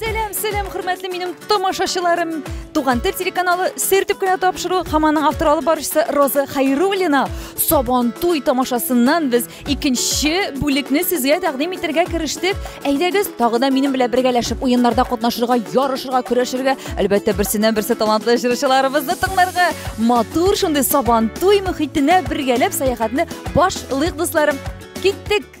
Сәлам, сәлам, хөрмәтле минем тамашачыларым. Туган тел телеканалы сер дип кенә тапшыру һәм аның автор алып баручысы Роза Хайруллина Сабантуй тамашасыннан без икенче бүлекне сезгә тәкъдим итәргә керештек. Әйдәгез, тагы да минем белән бергәләшеп уеннарда катнашырга, ярышырга, көрәшергә, әлбәттә, берсеннән берсе талантлы җырчыларыбызны тыңларга, матур шундый Сабантуй мөхитенә бергәләп сәяхәтне башлыйк, дусларым. Киттек!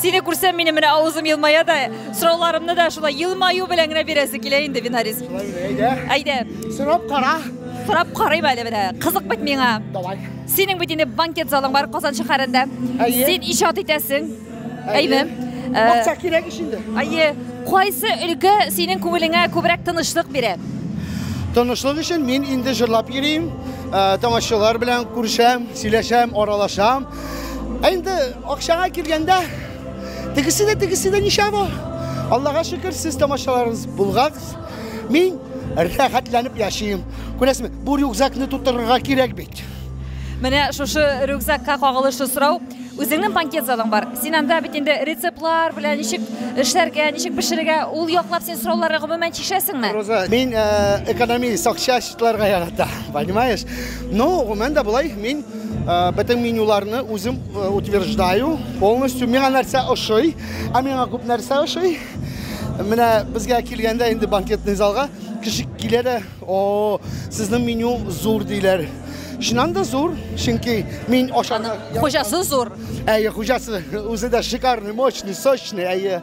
Сине күрсәм минем менә авызым елмая да, сорауларымны да шулай елмаю белән генә бирәсе килә инде Винарис. Әйдә. Әйдә. Сорап кара. Сорап карыйм әле менә. Кызык бит миңа. Давай. Синең бит инде банкет залың бар Казан шәһәрендә. Син иҗат итәсең. Әйме? Акча кирәк ич инде. Әйе. Кайсы өлкә синең күңелеңә күбрәк тынычлык бирә? Тынычлык өчен мин инде җырлап йөрим, тамашачылар белән күрешәм, сөйләшәм, аралашам. Ә инде акчага килгәндә, тегесе дә, тегесе дә ничә бу? Аллага шөкер, сез тамашаларыгыз булгагыз. Мин рәхәтләнеп яшим. Күрәсезме, бу рюкзакны тутырырга кирәк бит. Менә шушы рюкзакка кагылышлы сорау. Үзеңнең банкет залың бар. Син анда бит инде рецептлар белән ничек эшләргә, ничек пешерергә, ул яклап син сорауларга гомумән чишәсеңме? Роза, мин экономист, акча счетларга ярата, понимаешь? Ну, гомумән дә болай, мин э, бөтен менюларны үзем э, утверждаю, полностью миңа нәрсә ошый, ә миңа күп нәрсә ошый. Менә безгә килгәндә инде банкетный залга кеше килә дә, о, сезнең меню зур диләр. Чыннан да зур, чөнки мин ашаны... Хуҗасы зур. Әйе, хуҗасы үзе дә шикарный, мощный, сочный, әйе.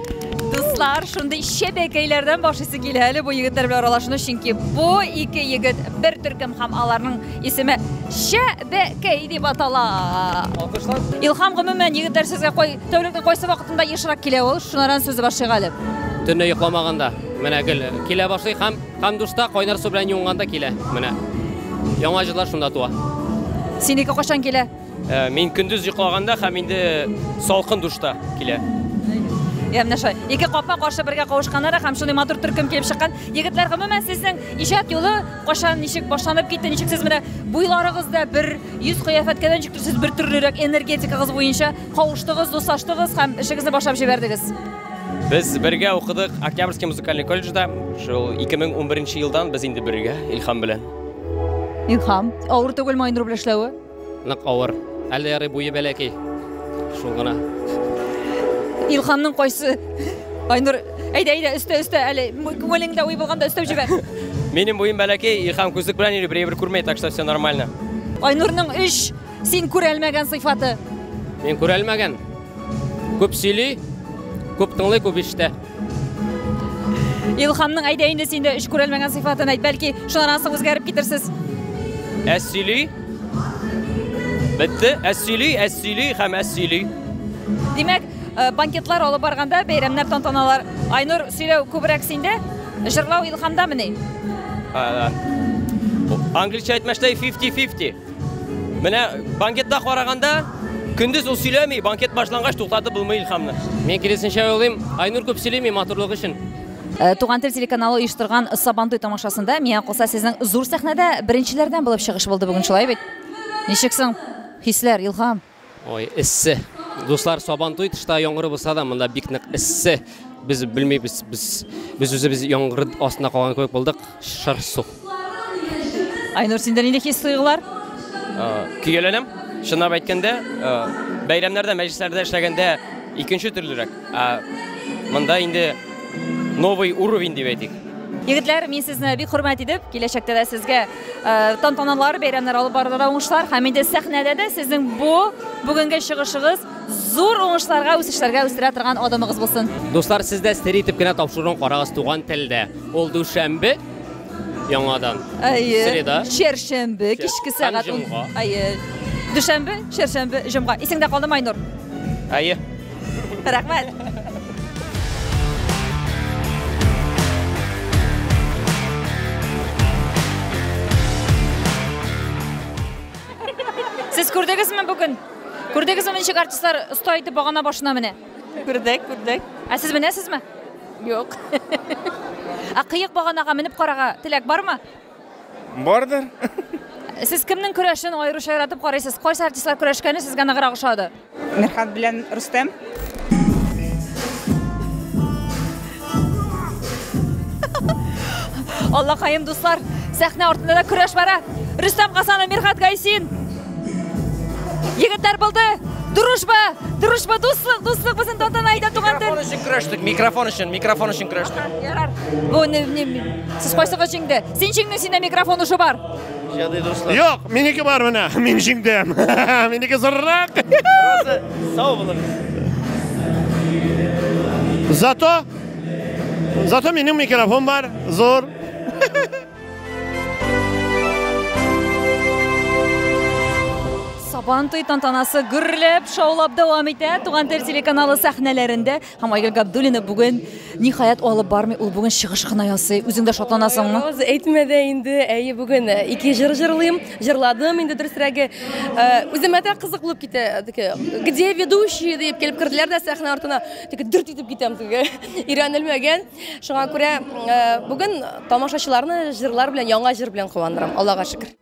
Дуслар, шундый чәбәкәйләрдән башлыйсы килә әле бу егетләр белән аралашуны, чөнки бу ике егет бер төркем һәм аларның исеме Чәбәкәй дип атала. Алкышлар. Илхам, гомумән, егетләр сезгә кай тәүлекнең кайсы вакытында ешрак килә ул? Шунардан сүз башлыйк әле. Төнлә йокламаганда, менә гел килә башлый һәм һәм душта кайнар су белән юынганда килә. Менә яңа җырлар шунда туа. Синеке кайчан килә? Э, мин көндез йоклаганда һәм инде салкын душта килә. Я менә шулай. Ике капма каршы бергә кавышканнары һәм шундый матур төркем килеп чыккан. Егетләр, гомумән сезнең иҗат юлы кашан ничек башланып китте, ничек сез менә буйларыгыз да бер, йөз кыяфәткә дә ничек сез бер төрлерәк энергетикагыз буенча кавыштыгыз, дуслаштыгыз һәм эшегезне башлап җибәрдегез. Без бергә укыдык Октябрьский музыкальный колледжда. Шул 2011 елдан без инде бергә Илхам белән. Илхам, авыр түгел Майнур белән эшләве? Нык авыр. Әле ярый буе бәләкәй. Шул гына. Илханның кайсы? Айнур, әйдә, әйдә, өстә, өстә, әле күңелеңдә уй булганда өстәп җибәр. Минем буем бәләкәй, Илхан күзлек белән йөри, бер күрмәй, так что все нормально. Айнурның өч син күрәлмәгән сыйфаты. Мин күрәлмәгән. Күп сөйли, күп тыңлый, күп ишетә. Илхамның әйдә инде син дә эш күрәлмәгән сыйфатын әйт, бәлки шуннан соң үзгәреп китерсез. Әз сөйли. Бетте, әз сөйли, әз сөйли һәм әз сөйли. Димәк, э, банкетлар алып барганда, бәйрәмнәр, тантаналар, Айнур сөйләү күбрәк синдә, җырлау Илхамдамыни? Англичә әйтмәштәй 50-50. Менә банкетта караганда, көндез ул сөйләми, банкет башлангач туктатып булмый Илхамны. Мин киресенчә уйлыйм, Айнур күп сөйлими матурлык өчен. Э, Туган тел телеканалы оештырган Сабантуй тамашасында миңа калса сезнең зур сәхнәдә беренчеләрдән булып чыгыш булды бүген шулай бит? Ничек соң? Хисләр, Илхам. Ой, эссе. Дуслар, Сабантуй тышта яңгыр булса да, монда бик нык эссе. Без белмибез, без без үзебез яңгыр астында калган кебек булдык. Шыр су. Айнур, синдә нинди хис-тойгылар? Көяләнәм. Чынлап әйткәндә, бәйрәмнәрдә, мәҗлесләрдә эшләгәндә икенче төрлерәк. Ә монда инде новый уровень дип әйтик. Егетләр, мин сезне бик хөрмәт итеп, киләчәктә дә сезгә Э, тантаналар, бәйрәмнәр алып барылырга уңышлар һәм инде сәхнәдә дә сезнең бу бүгенге чыгышыгыз зур уңышларга, үсешләргә үстерә торган адымыгыз булсын. Дуслар, сез дә сер итеп кенә тапшыруын карагыз туган телдә. Ул дүшәмбе яңадан. Әйе. Среда. Чәршәмбе кичке сәгать. Әйе. Дүшәмбе, чәршәмбе, җомга. Исеңдә калдымы, Айнур? Әйе. рәхмәт Сез күрдегезме бүген? Күрдегезме ничек артистлар оста итеп багана башына менә? Күрдек, күрдек. Ә сез менәсезме? Юк. Ә кыек баганага менеп карага теләк бармы? Бардыр. Сез кемнең көрәшен аеруча яратып карыйсыз? Кайсы артистлар көрәшкәне сезгә ныграк ошады? Мирхат белән Рустем. Аллакаем, дуслар, сәхнә артында да көрәш бара. Рөстәм Гасанов, Мирхат Гайсин. Егетләр булды. Дружба, дружба, дуслык, дуслык безнең тантана әйдә туган тел. Микрофон өчен көрәштек, микрофон өчен, микрофон өчен көрәштек. Ярар. Бу не, не, Сез кайсыгыз җиңде? Син җиңдең, синдә микрофон уже бар. Җадый дуслар. Юк, минеке бар менә. Мин җиңдем. Минеке зуррак. Роза, сау булыгыз. Зато Зато минем микрофон бар. Зур. Сабантуй тантанасы гөрләп, шаулап дәвам итә. Туган тел телеканалы сәхнәләрендә Һәм Айгөл Габдуллина бүген ниһаять алып бармый, ул бүген чыгыш кына ясый. Үзең дә шатланасыңмы? Аз әйтмә дә инде. Әйе, бүген э, ике җыр җырлыйм. Җырладым инде дөресрәге. Э, үземә дә кызык булып китә. Теге, Где ведущие дип килеп керделәр дә сәхнә артына. Теге дүрт итеп китәм теге. Өйрәнелмәгән. Шуңа күрә э, бүген тамашачыларны җырлар белән, яңа җыр белән куандырам. Аллага шөкер.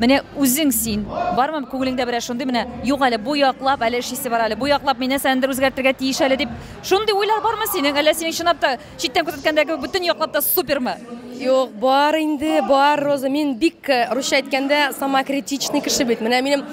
Менә үзең син, бармы күңелеңдә берәр шундый менә, юк әле бу яклап әле эш исе бар әле, бу яклап мин нәрсәнедер үзгәртергә тиеш әле дип, шундый уйлар бармы синең, әллә синең чынлап та читтән күзәткәндә кебек бөтен яклап та супермы? Юк, бар инде, бар, Роза, мин бик, э, русча әйткәндә, самокритичный кеше бит. Менә минем,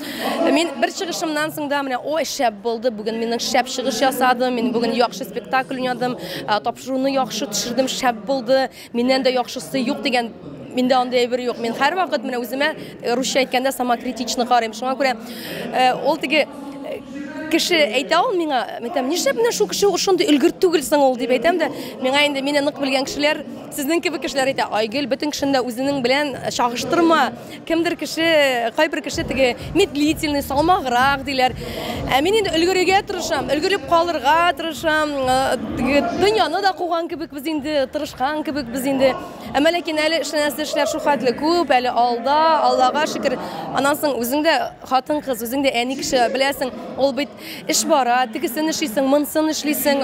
мин бер чыгышымнан соң да менә, ой, шәп булды, бүген минем шәп чыгыш ясадым, мин бүген яхшы спектакль уйнадым, э, тапшыруны яхшы төшердем, шәп булды, Миннән дә яхшысы юк дигән миндә андый әйбер юк. Мин һәрвакыт менә үземә э, русча әйткәндә самокритично карыйм. Шуңа күрә э, ул теге э, кеше әйтә ул миңа, мин әйтәм, нишләп менә шул кеше шундый өлгер түгел соң ул дип әйтәм дә, миңа инде мине нык белгән кешеләр, сезнең кебек кешеләр әйтә, Айгөл, бөтен кешене дә үзенең белән чагыштырма. Кемдер кеше, кайбер кеше теге медлительный, салмаграк диләр. Ә мин инде өлгерергә тырышам, өлгереп калырга тырышам. Э, дөньяны да куган кебек без инде, тырышкан кебек без инде. Әмма ләкин әле эшләнәсе эшләр шул хәтле күп, әле алда, Аллага шөкер. Аннан соң үзең дә хатын-кыз, үзең дә әни кеше, беләсең, ул бит эш бара, тегесен эшлисең, монсын эшлисең,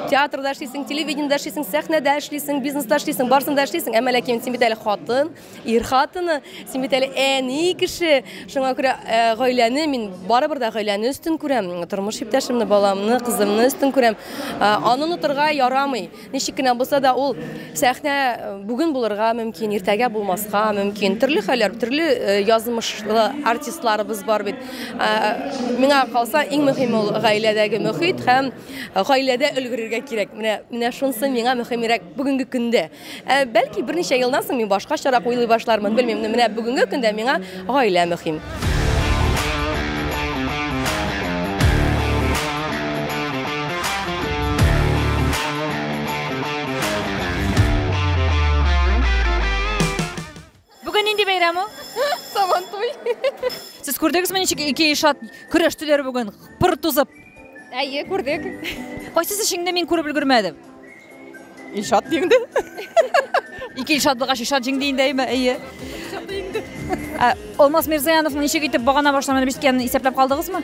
театрда эшлисең, телевидениедә эшлисең, сәхнәдә эшлисең, бизнеста эшлисең, барсында эшлисең. Әмма ләкин син бит әле хатын. Ир хатыны, син бит әле әни кеше. Шуңа күрә э, гаиләне мин барыбер дә гаиләне өстен күрәм. Тормыш иптәшемне, баламны, кызымны өстен күрәм. Э, аны онытырга ярамый. Ничек кенә булса да ул сәхнә э, бүген булырга мөмкин, иртәгә булмаска мөмкин. Төрле хәлләр, төрле язмышлы артистларыбыз бар бит. Миңа калса, иң мөһиме ул гаиләдәге мөхит һәм гаиләдә өлгерергә кирәк. Менә менә шунысы миңа мөһимрәк бүгенге көндә. Ә бәлки берничә елдан соң мин башкачарак уйлый башлармын, белмим, менә бүгенге көндә миңа гаилә мөһим. Бүген нинди бәйрәм ул? Сабантуй. Сез күрдегезме, ничек ике ишат көрәштеләр бүген, пыр тузып? Әйе, күрдек. Кайсы эшеңне мин күреп өлгермәдем? Ишат җиңде. Ике ишат булгач, ишат җиңде инде, әйме? Әйе. Алмаз Мирзаяновның ничек итеп багана башланып беткәнен исәпләп калдыгызмы?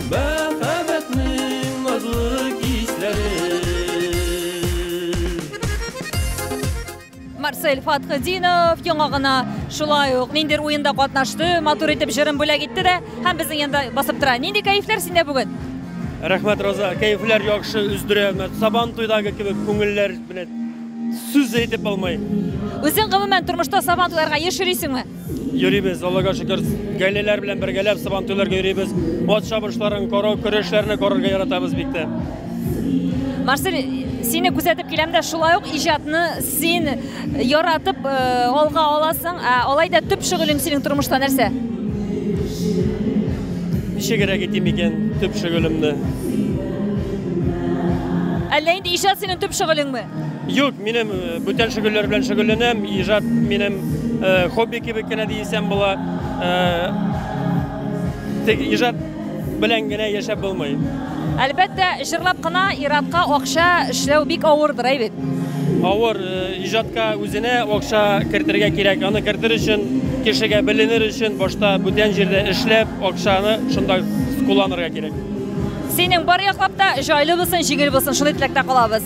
Мәхәббәтнең назлы Марсель Фатхединов яңа гына шулай ук ниндер уенда катнашты, матур итеп җырын бүләк итте дә һәм безнең янда басып тора. Нинди кәефләр синдә бүген? Рәхмәт, Роза. Кәефләр яхшы, үздерә. Сабан туйдагы кебек күңелләр белән сүз әйтеп алмай. Үзең гомумән тормышта сабан туйларга еш йөрисеңме? Йөрибез, Аллага шөкер, гаиләләр белән бергәләп сабантуйларга йөрибез. Ат чабышларын карау, көрәшләрне карарга яратабыз бик тә. Марсель, сине күзәтеп киләм дә шулай ук иҗатны син яратып э, алга аласың. Ә алай да төп шөгылең синең тормышта нәрсә? Ничегрәк итим икән төп шөгылемне? Әллә инде иҗат синең төп шөгылеңме? Юк, минем бүтән шөгыльләр белән шөгыльләнәм. Иҗат минем хобби кебек кенә дисәм була. Тик иҗат белән генә яшәп булмый. Әлбәттә, җырлап кына иратка акча эшләү бик авырдыр әй бит. Авыр иҗатка үзенә акча кертергә кирәк. Аны кертер өчен, кешегә беленер өчен башта бүтән җирдә эшләп, акчаны шунда кулланырга кирәк. Синең бар яклап та җайлы булсын, җиңел булсын, шундый теләктә калабыз.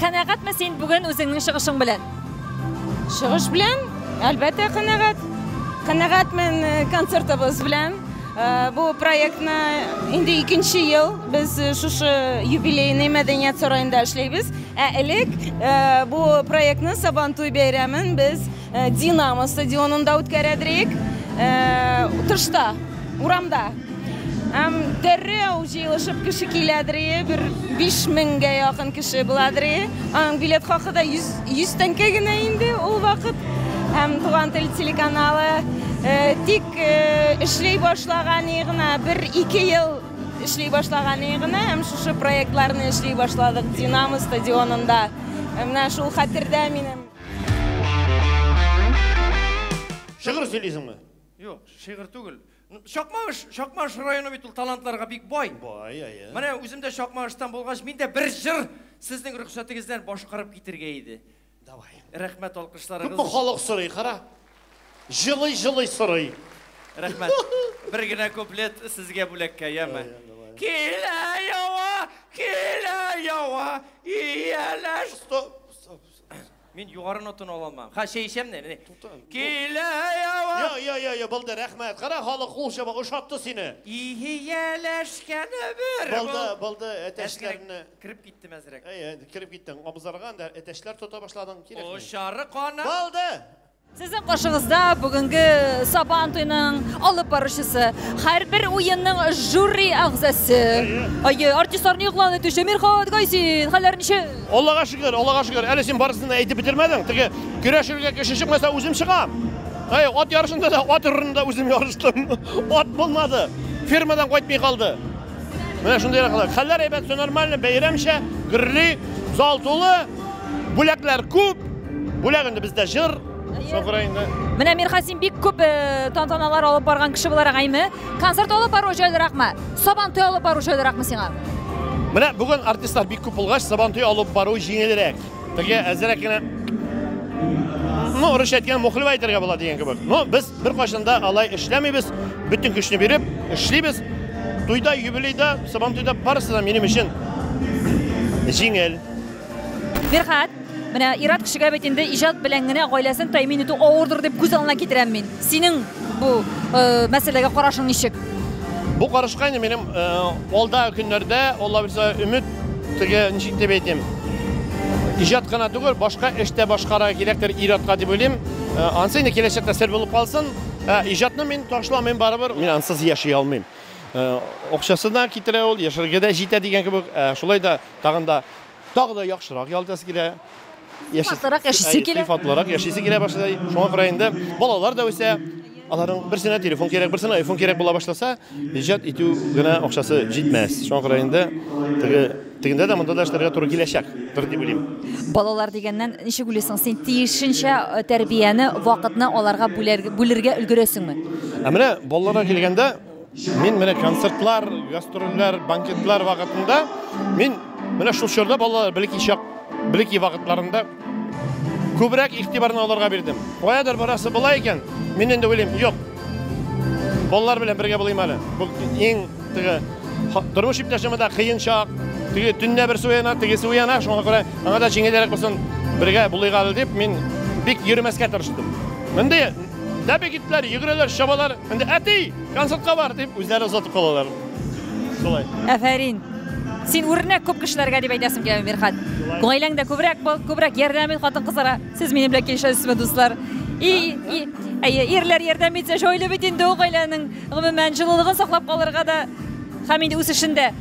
Канәгатьме син бүген үзеңнең чыгышың белән? Чыгыш белән, әлбәттә, канәгать. Канәгатьмен э, концертыбыз белән. Э, бу проектны инде икенче ел без э, шушы юбилейный мәдәният сараенда эшләйбез. Ә элек бу проектны Сабантуй бәйрәмен без Динамо стадионында үткәрәдрек. Тышта, урамда. Һәм дәррәү җыелышып кеше киләдер, бер 5000гә якын кеше буладыр. Аның билет хакы да 100 100 тәңкә генә инде ул вакыт. Һәм Туган тел телеканалы э, тик э, эшли башлаган гына, 1-2 ел эшли башлаган гына һәм шушы проектларны эшли башладык Динамо стадионында. Менә шул хәтердә минем. Шигырь сөйлисеңме? Юк, шигырь түгел. Чакмагыш, Чакмагыш районы бит ул талантларга бик бай. Бай, әйе. Менә үзем дә Чакмагыштан булгач, мин дә бер җыр сезнең рөхсәтегездән башкарып китергә иде. Давай. Рәхмәт алкышларыгыз. Күпме халык сорый, кара. Җылый, җылый сорый. Рәхмәт. Бер генә куплет сезгә бүләккә, яме. Килә ява, килә ява, ияләш. Стоп. Мин югары нотаны ала алмам. Ха, чәй ичәм не? Килә ява. Йо, йо, йо, йо, булды, рәхмәт. Кара халык кул чаба, ошатты сине. Иһияләшкәне бер. Булды, булды, әтәчләрне. Кирип киттем әзрәк. Әй, кереп киттең. Абызарган да әтәчләр тота башладың, кирәкми. Ошары кана. Булды. Сезнең каршыгызда бүгенге Сабан туеның алып баручысы, һәрбер уенның жюри әгъзасы. Әйе, артистларны игълан итүче Мирхат Гайсин, хәлләр ничек? Аллага шөкер, Аллага шөкер. Әле син барысын да әйтеп бетермәдең. Теге көрәшергә кеше чыкмаса, үзем чыгам. Әй, ат ярышында да ат урынында үзем ярыштым. Ат булмады. Фермадан кайтмый калды. Менә шундый рәхәтләр. Хәлләр әйбәт, все нормально, бәйрәмчә, гөрли, зал тулы, бүләкләр күп. Бүләк инде бездә җыр, Сокра инде. Менә Мирхасин бик күп э, тантаналар алып барган кеше буларак әйме. Концерт алып бару җайлыракмы? Сабантуй алып бару җайлыракмы сиңа? Менә бүген артистлар бик күп булгач, Сабантуй алып бару җиңелрәк. Теге әзрәк кенә ну, урысча әйткән мухлева әйтергә була дигән кебек. Но без беркайчан да алай эшләмибез, бөтен көчне биреп эшлибез. Туйда, юбилейда, сабантуйда барысы да минем өчен җиңел. Фирхат, менә Ират кешегә бит инде иҗат белән генә гаиләсен тәэмин итү авырдыр дип күз алдына китерәм мин. Синең бу э, мәсьәләгә карашың ничек? Бу карашка инде минем э, алда көннәрдә, Алла бирса, өмет Теге ничек дип әйтим? Иҗат кына түгел, башка эштә башкара кирәктер ир-атка дип уйлыйм. Э, ансы инде киләчәктә сер булып калсын. Ә э, иҗатны мин ташламыйм барыбер. Мин ансыз яши алмыйм. Э, акчасы да китерә ул, яшәргә дә җитә дигән кебек. Шулай да тагын да тагы да яхшырак ял итәсе килә. Сыйфатлырак яшисе килә. Сыйфатлырак яшисе килә башлый. Шуңа күрә инде балалар да үсә. Аларның берсенә телефон кирәк, берсенә iPhone кирәк була башласа, иҗат итү генә акчасы җитмәс. Шуңа күрә инде теге тегендә дә монда да эшләргә туры киләчәк. Бер дип уйлыйм. Балалар дигәннән ничек уйлыйсың? Син тиешенчә э, тәрбияне, вакытны аларга бүләргә- бүлергә өлгерәсеңме? Ә менә балаларга килгәндә, Мин менә концертлар, гастрольләр, банкетлар вакытында мин менә шул чорда балалар белеки чак, белеки вакытларында күбрәк игътибарны аларга бирдем. Каядыр барасы була икән, мин инде уйлыйм, юк. Балалар белән бергә булыйм әле. Бу иң теге тормыш иптәшемә дә кыен чак. Теге төнлә берсе уяна, тегесе уяна, шуңа күрә аңа да җиңелрәк булсын, бергә булыйк әле дип мин бик йөрмәскә тырыштым. Мондый Дәбе киттеләр, йөгерәләр, чабалар. Инде әти, концертка бар дип үзләре озатып калалар. Шулай. Афәрин. Син үрнәк күп кешеләргә дип әйтәсем килә, Мирхат. Гаиләңдә күбрәк бул, күбрәк ярдәм ит хатын-кызларга. Сез минем белән килешәсезме, дуслар? И, и, әйе, ирләр ярдәм итсә, җайлы бит инде ул гаиләнең гомумән җылылыгын саклап калырга да һәм инде үсешендә.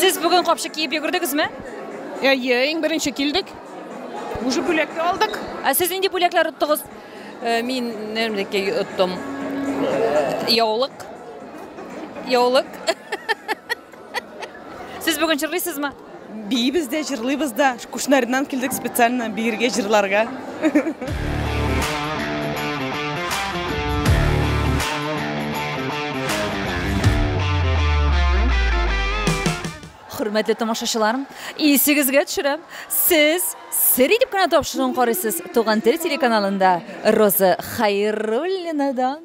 Сез бүген капчык киеп йөгердегезме? Әйе, иң беренче килдек. Уже бүләк тә алдык. Ә сез нинди бүләкләр оттыгыз? Э, мин нәрмдәки оттым. Э, яулык. Яулык. Сез бүген җырлыйсызмы? Биибез дә, җырлыйбыз да. Кушнарыннан килдек специально биергә, җырларга. Хөрмәтле тамашачылар, исегезгә төшерәм, сез сер итеп кенә тапшыруын карыйсыз Туган тел телеканалында Роза Хәйруллинадан.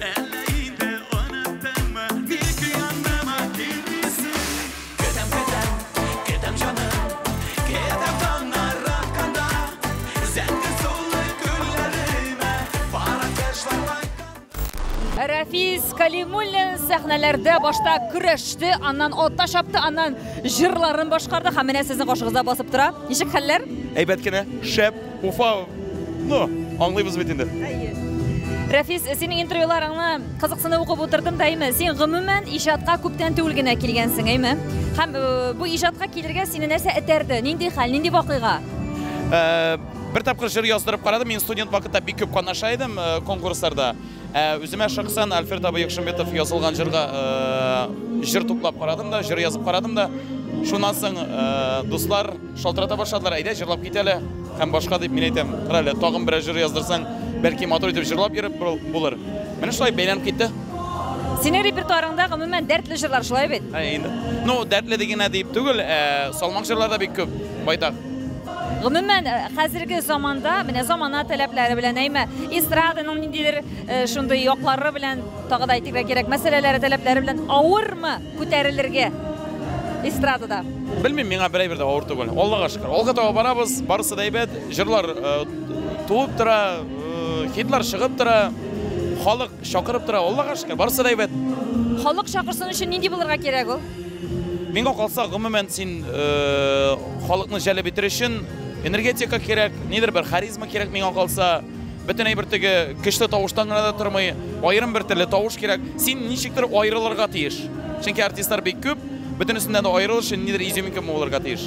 Әллә инде оныттыңмы, ник яныма килмисең? Көтәм, көтәм, көтәм җаным, көтәм таңнар атканда, зәңгәр сулы күлләремә пар кошлар кайтканда. Рәфис Кәлимуллин сәхнәләрдә башта көрәште, аннан ата чапты, аннан җырларын башкарды һәм менә сезнең каршыгызда басып тора. Ничек хәлләр? Әйбәт кенә, шәп! Уфа, ну, аңлыйбыз бит инде. Рәфис, синең интервьюларыңны кызыксынып укып утырдым да, әйме? Син гомумән иҗатка күптән түгел генә килгәнсең, әйме? Һәм э, бу иҗатка килергә сине нәрсә этәрде? Нинди хәл, нинди вакыйга? Э, бер тапкыр җыр яздырып карадым, мин студент вакытта бик күп катнаша идем э, конкурсларда. Ә үземә шәхсән Альфред абый Якшымбетов язылган җырга җыр туплап карадым да, җыр язып карадым да. Шуннан соң дуслар шалтырата башладылар, әйдә җырлап кит әле һәм башка дип мин әйтәм, кара әле, тагын берәр җыр яздырсаң, бәлки матур итеп җырлап йөреп булыр. Менә шулай бәйләнеп китте. Синең репертуарыңда гомумән дәртле җырлар шулай бит? Ну, дәртле дигәнә дип түгел, салмак җырлар да бик күп, байтак. Гомумән, э, хәзерге заманда, менә замана таләпләре белән, әйме, эстраданың ниндидер э, шундый яклары белән, тагы да әйтергә кирәк, мәсьәләләре таләпләре белән авырмы күтәрелергә эстрадада? Белмим, миңа берәй бер дә авыр түгел. Аллага шөкер. Алга таба барабыз, барысы да әйбәт. Җырлар э, туып тора, хитлар чыгып тора, халык чакырып тора. Аллага шөкер, барысы да әйбәт. Халык чакырсын өчен нинди булырга кирәк ул? Миңа калса, гомумән, син э, халыкны җәлеп итер өчен энергетика кирәк, нидер бер харизма кирәк миңа калса. Бөтен әйбер теге көчле тавыштан гына да тормый, аерым бер төрле тавыш кирәк. Син ничектер аерылырга тиеш. Чөнки артистлар бик күп, бөтенесеннән дә аерылыр өчен нидер изюминка булырга тиеш.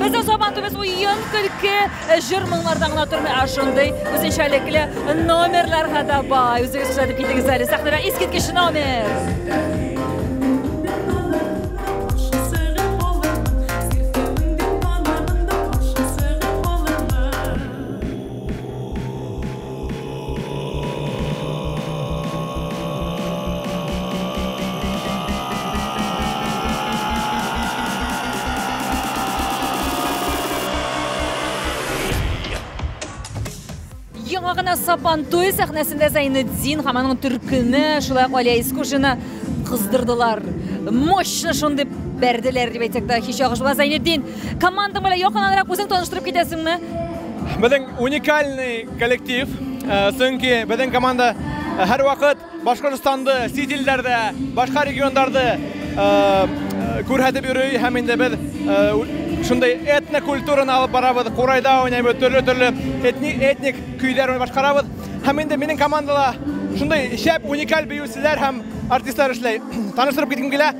Безнең Сабантуйбыз уен, көлке, э, җыр-моңнардан гына тормый, а шундый үзенчәлекле номерларга да бай. Үзегез күрсәтеп китегез әле сәхнәдә искиткеч номер. Яңа гына Сабантуй сәхнәсендә Зәйнетдин һәм аның төркеме, шулай ук Алия Искушина кыздырдылар. Мощно шундый бәрделәр дип әйтсәк тә һич ягыш булмас. Зәйнетдин, Командаң белән якыннанрак үзең таныштырып китәсеңме? Безнең уникальный коллектив, э, чөнки безнең команда э, һәрвакыт Башкортстанды, чит илләрдә, башка регионнарда э, күрһәтеп йөри һәм инде без шундый этно культураны алып барабыз, курайда уйнайбыз, төрле-төрле этник, этник көйләр башкарабыз. Һәм инде минем командала шундый шәп, уникаль биючеләр һәм артистлар эшләй. Таныштырып киткем килә.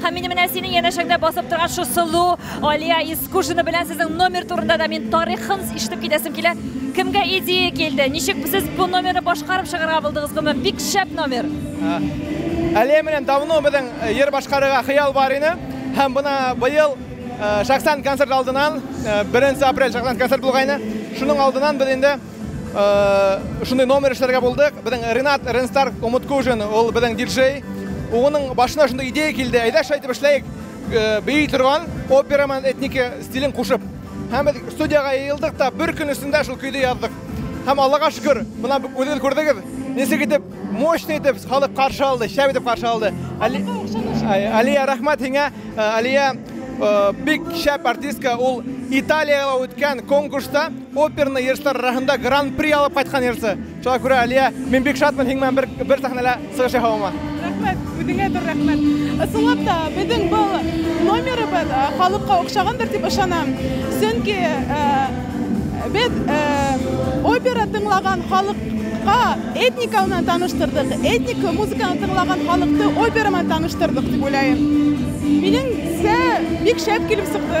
Һәм мин менә синең янәшәңдә басып торган шу сылу Алия Искушина белән сезнең номер турында да мин тарихын ишетеп китәсем килә. Кемгә идея килде? Ничек сез бу номерны башкарып чыгарга булдыгыз? Гомум бик шәп номер. Алия белән давно безнең җыр башкарырга хыял бар иде. Һәм бына быел шәхсән концерт алдынан 1 апрель шәхсән концерт булгайны. Шуның алдынан без инде Шундый номер эшләргә булдык. Безнең Ренат Ренстар Умуткужин, ул безнең диджей. Уның башына шундый идея килде. Әйдә шулай итеп эшләйек. Бии торган опера менән этники стилен кушып. Һәм без студиягә йыелдык та бер көн эчендә шул көйне яздык. Һәм Аллага шөкер, менә үзегез күрдегез, ничек итеп мощный итеп халык каршы алды, шәп итеп каршы алды. Алия, рәхмәт һиңә. Алия бик шәп артистка, ул Италиягә үткән конкурста Оперный йырчылар арасында гран-при алып кайткан йырчы. Шуңа күрә, Алия, мин бик шатмын һиң белән бер, бер сәхнәлә чыгыш ясавыма. Рәхмәт, үзеңә зур рәхмәт. Ысынлап та, безнең бу номерыбыз халыкка охшагандыр дип ышанам. Чөнки без опера тыңлаган халыкка этника белән таныштырдык, этник музыканы тыңлаган халыкты опера белән таныштырдык дип уйлыйм. Минемчә, бик шәп килеп чыкты.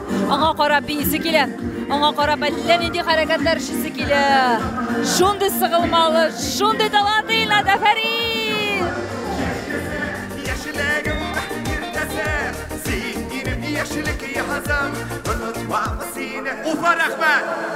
Аңа карап биисе килә. Аңа карап әллә нинди хәрәкәтләр эшлисе килә. Шундый сыгылмалы, шундый талантлы Илнат, афәрин! Яшьлегем иртәсе, син минем яшьлек язым, онытмам сине. Уфа, рәхмәт!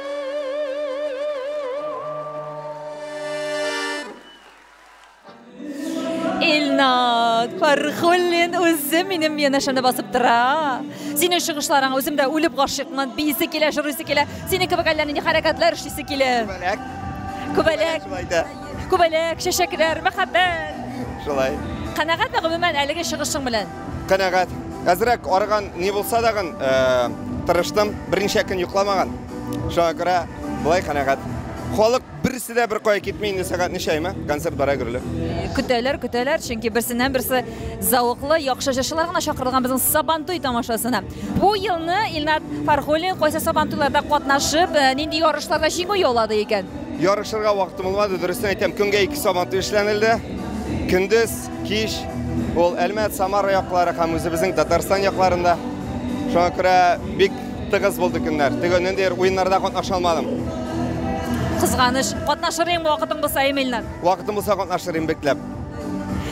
Илнат, Фархуллин үзе минем янәшәмдә басып тора. Синең чыгышларың үзем дә үлеп гашыйкмын. Биисе килә, җырлыйсы килә. Синең кебек әллә нинди хәрәкәтләр эшлисе килә. Күбәләк. Күбәләк, Шулай да. күбәләк, чәчәкләр, мәхәббәт. Шулай. Канәгатьме гомумән әлеге чыгышың белән? Канәгать. Әзрәк арыган ни булса дагын тырыштым. Берничә көн йокламаган. Шуңа күрә болай канәгать. Халык берсе дә бер кая китми инде сәгать ничәйме? Концерт бара гөрле. Көтәләр, көтәләр, чөнки берсеннән берсе зәвыклы, яхшы җырчылар гына чакырылган безнең Сабантуй тамашасына. Бу елны Илнат Фархуллин кайсы Сабантуйларда катнашып, э, нинди ярышларда җиңү яулады икән? Ярышырга вакытым булмады, дөрестән әйтәм, көнгә ике Сабантуй эшләнелде. Көндез Кич ул Әлмәт, Самара яклары һәм үзебезнең Татарстан якларында. Шуңа күрә бик тыгыз булды көннәр. Теге ниндидер уеннарда катнаша алмадым. Кызганыч. Катнашыр идең вакытың булса, әйеме, Илнар? Вакытым булса катнашыр идем бикләп.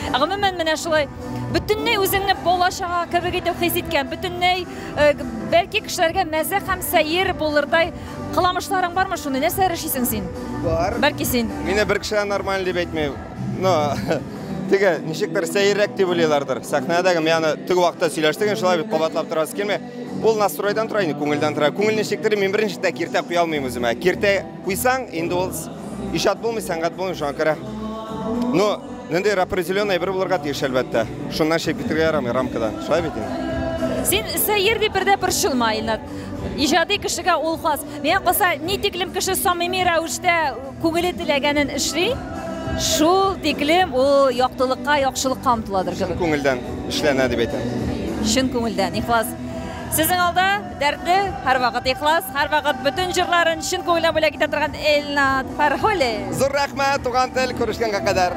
Гомумән, менә шулай бөтенләй үзеңне бала-чага кебек итеп хис иткән, бөтенләй э, бәлки кешеләргә мәзәк һәм сәер булырдай кыламышларың бармы шуны? Нәрсә эшлисең син? Бар. Бәлки син? Мине бер кеше дә нормаль дип әйтми. Но теге ничектер сәеррәк дип уйлыйлардыр. Сәхнәдәге яны теге вакытта сөйләштек, инде шулай бит кабатлап торасы килми. Ул настройдан тора инде, күңелдән тора. Күңел ничектер, мин беренчедә киртә куя алмыйм үземә. Киртә куйсаң, инде ул иҗат булмый, сәнгать булмый, шуңа күрә. Ну, ниндидер определенный әйбер булырга тиеш, әлбәттә. Шуннан чыгып китергә ярамый рамкадан. Шулай бит инде. Син сәер дип бер дә борчылма, Илнат. Иҗади кешегә ул хас. Миңа калса, ни тиклем кеше самими рәвештә Күңеле теләгәнен эшли, шул тиклем ул яктылыкка, яхшылыкка омтыладыр кебек. Күңелдән эшләнә дип әйтәм. Чын күңелдән, ихлас. Сезнең алда дәртле, һәрвакыт ихлас, һәрвакыт бөтен җырларын чын күңелдән бүләк итә торган Эльнат Фәрхуллин. Зур рәхмәт, туган тел, күрешкәнгә кадәр.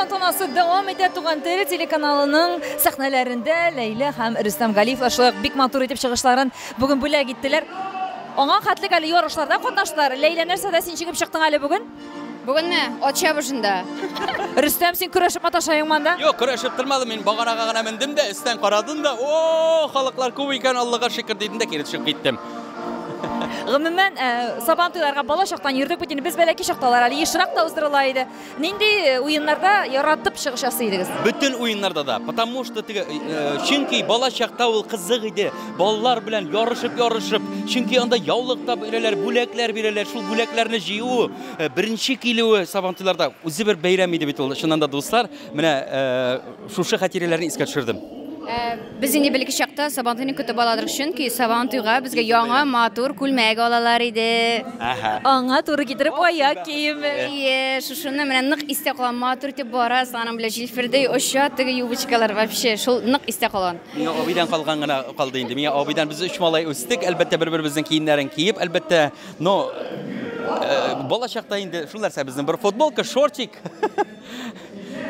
тантанасы дәвам итә туган тел телеканалының сәхнәләрендә Ләйлә һәм Рөстәм Галиевлар шулай ук бик матур итеп чыгышларын бүген бүләк иттеләр. Аңа хәтлек әле ярышларда катнаштылар. Ләйлә нәрсәдә син чыгып чыктың әле бүген? Бүгенме? Ат чабышында. Рөстәм, син көрәшеп маташаең монда? Юк, көрәшеп тормадым. Мин баганага гына мендем дә, өстән карадым да, о, халыклар күп икән, Аллага шөкер дидем дә кире төшеп киттем. Гомумән, э, сабан туйларга бала чактан йөрдек бит инде. Без бәләки чакта алар әле ешрак та уздырыла иде. Нинди э, уеннарда яратып чыгыш ясый идегез? Бөтен уеннарда да, потому что теге, э, чөнки бала чакта ул кызык иде. балалар белән ярышып-ярышып, чөнки анда яулык та бирәләр, бүләкләр бирәләр. Шул бүләкләрне җыю, э, беренче килүе Сабантуйларда үзе бер бәйрәм иде бит ул. Чыннан да, дуслар, менә э, шушы хатирәләрне искә төшердем. Э, без инде бельге чакта Сабантуйны көтеп аладык, чөнки Сабантуйга безгә яңа матур күлмәк алалар иде. Әһә. Аңа туры китереп аяк киеме. Ие, шушыны менә нык истә калган матур итеп барасың, аның белән җилфердәй оча теге юбочкалар вообще, шул нык истә калган. Миңа абыйдан калган гына калды инде. Миңа абыйдан без үч малай үстек, әлбәттә, бер-беребезнең киемнәрен киеп, әлбәттә, но э, бала чакта инде шул нәрсә безнең бер футболка, шортик.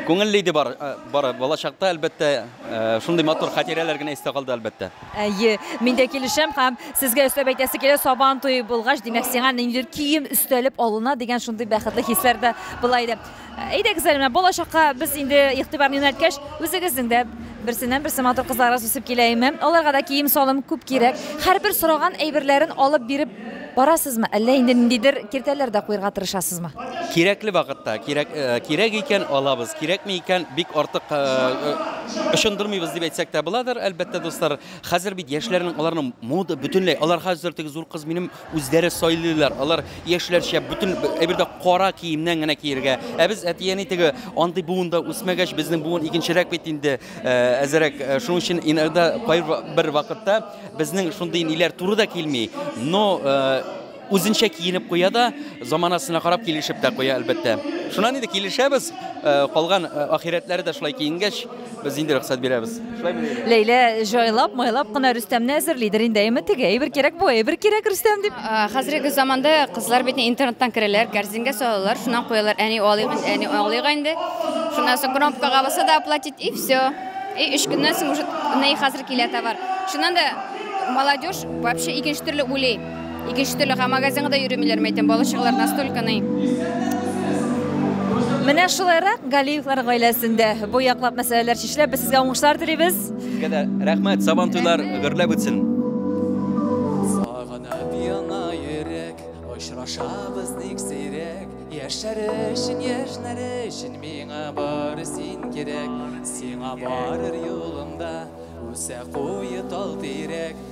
Күңелле иде бар, э, бар бала чакта, әлбәттә, э, шундый матур хатирәләр генә истә калды, әлбәттә. Әйе, мин дә килешәм һәм сезгә өстәп әйтәсе килә, сабан туе булгач, димәк, сиңа ниндидер кием өстәлеп алына дигән шундый бәхетле хисләр дә була иде. Әйдәгез әле, менә балачакка без инде игътибарны юнәлткәч, үзегезнең дә берсеннән-берсе матур кызларыбыз үсеп килә име? Аларга да кием-салым күп кирәк. Һәрбер сораган әйберләрен алып биреп барасызмы, әллә инде ниндидер киртәләр дә куерга тырышасызмы? Кирәкле вакытта, кирәк, э, кирәк икән алабыз, кирәкми икән бик артык э, э, ышындырмыйбыз дип әйтсәк тә буладыр, әлбәттә, дуслар. Хәзер бит яшьләрнең аларның мода бөтенләй, алар хәзер теге зур кыз минем Үзләре сайлыйлар, алар яшьләрчә бөтен әйбер дә кара киемнән генә киергә. Ә без әти-әни теге андый буында үсмәгәч, безнең буын икенчерәк бит инде, әзерәк. Шуның өчен иногда кайбер вакытта безнең шундый ниләр туры да килми, но үзенчә киенеп куя да, заманасына карап килешеп тә куя, әлбәттә. Шуннан инде килешәбез, калган ахирәтләре дә шулай киенгәч. Без инде рөхсәт бирәбез. Ләйлә җайлап, майлап кына Рөстәмне әзерлидер инде. Әйме теге, әйбер кирәк бу, әйбер кирәк Рөстәм дип. А, Хәзерге заманда кызлар бит интернеттан керәләр, корзинга салалар, шуннан куялар. Әни алыйк, инде, әни алыйк инде. Шуннан соң кнопкага баса да оплатить и все. И өч көннән соң уже ней хәзер килә товар. Шуннан да молодежь вообще икенче төрле уйлый. Икенче төрле һәм магазинга да йөремиләр, мәйтәм, бала чагалар настолько ни. Менә шулайрак Галиевлар гаиләсендә бу яклап мәсьәләләр чишелә. Без сезгә уңышлар телибез. Сезгә дә рәхмәт, сабан туйлар гөрләп үтсен. Сагынып яна йөрәк, очрашабыз ник сирәк, Яшьләр өчен, яшьләр өчен миңа бары син кирәк. Сиңа барыр юлымда, үсә куе тал тирәк,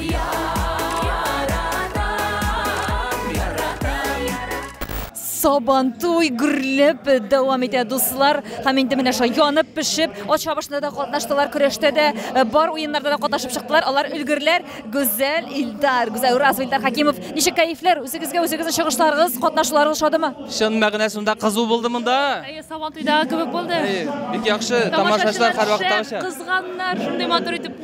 Яратам, яратам. Сабантуй гөрләп дәвам итә, дуслар. Һәм инде менә шулай янып пешеп, ат чабышында да катнаштылар, көрәштә дә, э, бар уеннарда да катнашып чыктылар. Алар өлгерләр Гүзәл Илдар, Гүзәл Уразова, Илдар Хәкимов. Ничек кәефләр? Үзегезгә үзегезнең чыгышларыгыз, катнашуларыгыз ошадымы? Чын мәгънәсендә кызу булды монда. Әйе, Сабантуйдагы кебек булды. Әйе, бик яхшы, тамашачылар һәрвакыттагыча. Шәп, кызганнар, шундый матур итеп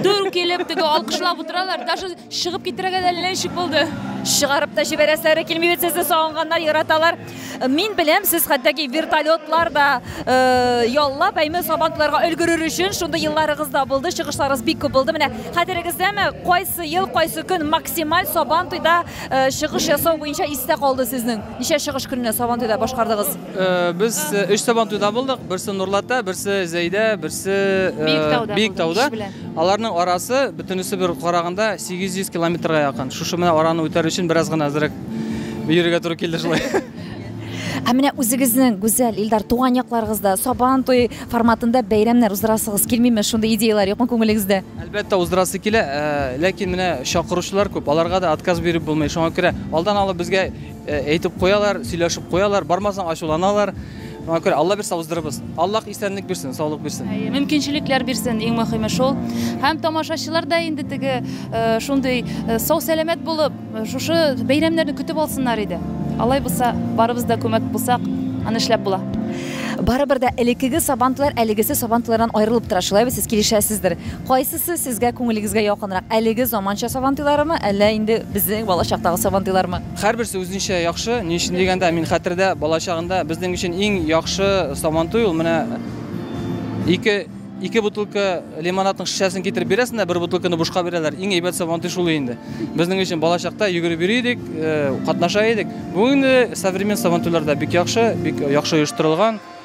Дүр килеп, теге алкышлап утыралар, даже чыгып китерергә дә әллә ничек булды. Чыгарып та җибәрәсләре килми бит сезне сагынганнар, яраталар. Мин беләм, сез хәтәки вертолетлар да э, яллап, әйме сабантуйларга өлгерер өчен шундый елларыгыз да булды, чыгышларыгыз бик күп булды. Менә хәтерегездәме, кайсы ел, кайсы көн максималь сабантуйда э, чыгыш ясау буенча истә калды сезнең? Ничә чыгыш көненә сабантуйда башкардыгыз? Без өч сабантуйда булдык. Берсе Нурлатта, берсе Зәйдә, берсе Биектауда. Аларның арасы бөтенесе бер караганда 800 километрга якын. Шушы менә араны үтәр өчен бераз гына әзрәк йөрергә туры килде шулай. Ә менә үзегезнең гүзәл Илдар туган якларыгызда Сабан туй форматында бәйрәмнәр уздырасыгыз килмиме? Шундый идеяләр юкмы күңелегездә? Әлбәттә, уздырасы килә, ләкин менә чакыручылар күп, аларга да отказ биреп булмый. Шуңа күрә алдан алып безгә Әйтеп куялар, сөйләшеп куялар, бармасаң ачуланалар. Шуңа күрә Алла бирсә уздырырбыз. Аллах исәнлек бирсен, саулык бирсен. Әйе, мөмкинчелекләр бирсен, иң мөхиме шул. Һәм тамашачылар да инде теге э, шундый э, сау сәламәт булып, э, шушы бәйрәмнәрне көтеп алсыннар иде. Алай булса, барыбыз да күмәк булсак, аны эшләп була. Барыбер дә элеккеге сабантуйлар әлегесе сабантуйлардан аерылып тора, шулай бит сез килешәсездер. Кайсысы сезгә күңелегезгә якынрак, әлеге заманча Сабантуйларымы, әллә инде безнең балачактагы Сабантуйлармы? Һәрберсе үзенчә яхшы. Ни өчен дигәндә, мин хәтердә, балачагында безнең өчен иң яхшы Сабантуй ул менә ике, ике бутылка лимонадның шешәсен китереп бирәсең дә, бер бутылканы бушка бирәләр. Иң әйбәт Сабантуй шул инде. Безнең өчен балачакта йөгереп йөри идек, катнаша идек. Бүген инде современ Сабантуйлар да бик яхшы, бик яхшы оештырылган.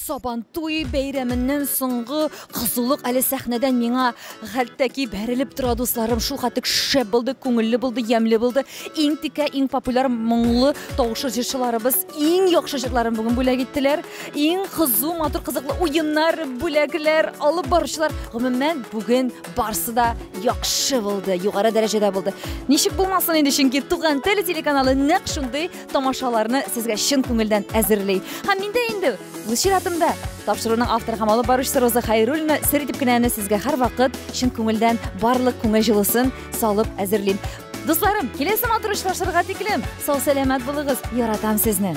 Сабантуй бәйрәменнән соңгы кызулык әле сәхнәдән миңа хәлтәки бәрелеп тора, дусларым. Шул хәтлек шәп булды, күңелле булды, ямьле булды. Иң текә, иң популяр моңлы тавышлы җырчыларыбыз иң яхшы җырларын бүген бүләк иттеләр. Иң кызу, матур, кызыклы уеннар, бүләкләр алып баручылар. Гомумән, бүген барсы да яхшы булды, югары дәрәҗәдә булды. Ничек булмасын инде, чөнки Туган тел телеканалы нәкъ шундый тамашаларны сезгә чын күңелдән әзерли. Һәм мин дә инде үз чиратымда тапшыруның авторы һәм алып баручысы Роза Хайруллина сер итеп кенә аны сезгә һәрвакыт чын күңелдән барлык күңел җылысын салып әзерлим. Дусларым, киләсе матур очрашырга тиклем сау сәламәт булыгыз. Яратам сезне.